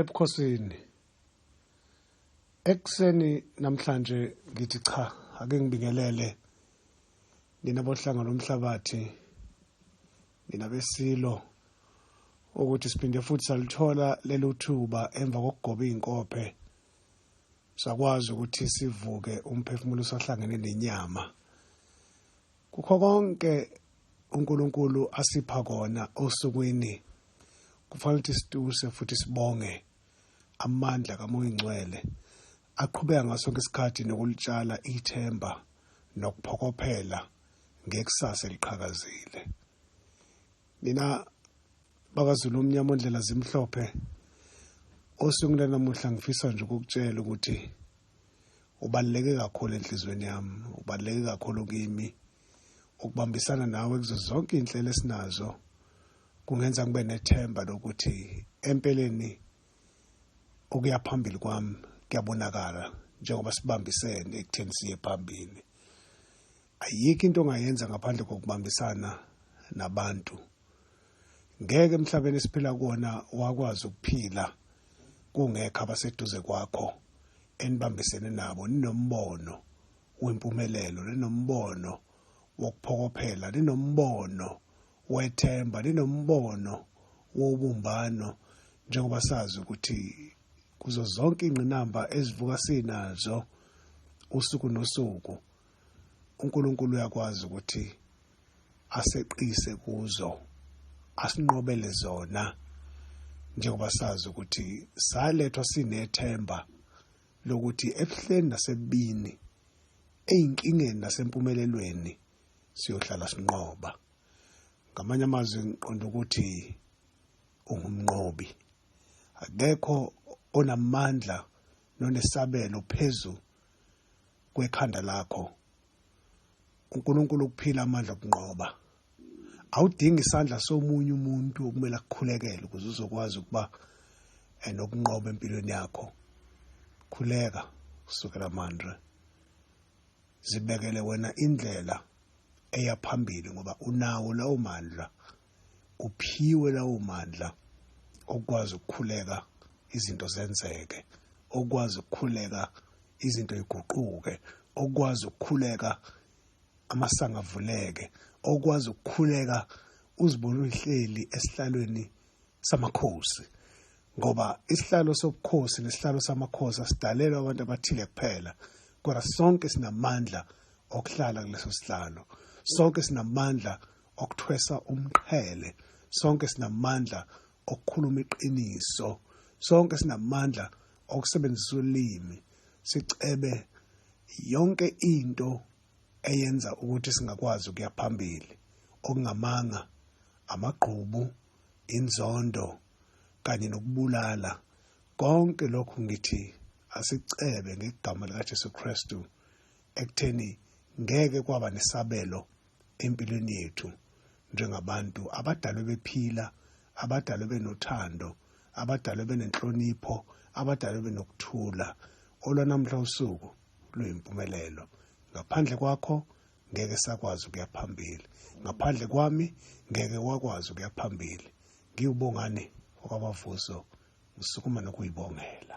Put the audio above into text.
ebukhosini ekuseni namhlanje ngithi cha ake ngibingelele nina bohlanga lomhlabathi nina besilo ukuthi siphinde futhi salithola lelo thuba emva kokugoba izinkophe sakwazi ukuthi sivuke umphefumulo usahlangene nenyama kukho konke uNkulunkulu asipha kona osukwini kufanele ukuthi situse futhi sibonge amandla kamoya ingcwele aqhubeka ngaso sonke isikhathi nokulitshala ithemba nokuphokophela ngekusasa eliqhakazile nina bakazulu omnyama ondlela zimhlophe osukwini lanamuhla ngifisa nje ukukutshela ukuthi ubaluleke kakhulu enhliziyweni yami ubaluleke kakhulu kimi ukubambisana nawe kuzo zonke iy'nhlelo esinazo kungenza ngibe nethemba lokuthi empeleni okuya phambili kwami kuyabonakala njengoba sibambisene ekutheni siye phambili ayikho into ongayenza ngaphandle kokubambisana nabantu ngeke emhlabeni esiphila kuwona wakwazi ukuphila kungekho abaseduze kwakho enibambisene nabo ninombono wempumelelo ninombono wokuphokophela ninombono wethemba ninombono wobumbano njengoba sazi ukuthi kuzo zonke ingqinamba ezivuka sinazo usuku nosuku uNkulunkulu uyakwazi ukuthi aseqise kuzo asinqobele zona njengoba sazi ukuthi salethwa sinethemba lokuthi ebuhleni nasebini eyinkingeni nasempumelelweni siyohlala sinqoba ngamanye amazwi ngiqonda ukuthi ungumnqobi akekho onamandla nonesabelo phezulu kwekhanda lakho uNkulunkulu ukuphila amandla okunqoba awudingi isandla somunye umuntu okumele akukhulekele ukuze uzokwazi ukuba eh, nokunqoba empilweni yakho khuleka kusukela manje zibekele wena indlela eya phambili ngoba unawo lawo mandla uphiwe lawo mandla okwazi ukukhuleka izinto zenzeke okwazi ukukhuleka izinto iguquke okwazi ukukhuleka amasanga avuleke okwazi ukukhuleka uzibona uhleli esihlalweni samakhosi ngoba isihlalo sobukhosi nesihlalo samakhosi asidalelwa abantu abathile kuphela kodwa sonke sinamandla okuhlala kuleso sihlalo sonke sinamandla okuthwesa umqhele sonke sinamandla okukhuluma iqiniso sonke sinamandla okusebenzisa ulimi sicebe yonke into eyenza ukuthi singakwazi ukuya phambili okungamanga amagqubu inzondo kanye nokubulala konke lokhu ngithi asicebe ngegama likaJesu Kristu ekutheni ngeke kwaba nesabelo empilweni yethu njengabantu abadalwe bephila abadalwe benothando abadalwe benenhlonipho abadalwe benokuthula olwanamhla usuku luyimpumelelo ngaphandle kwakho ngeke sakwazi ukuya phambili ngaphandle kwami ngeke wakwazi ukuya phambili ngiwubongani okwabavuso ngisukuma nokuyibongela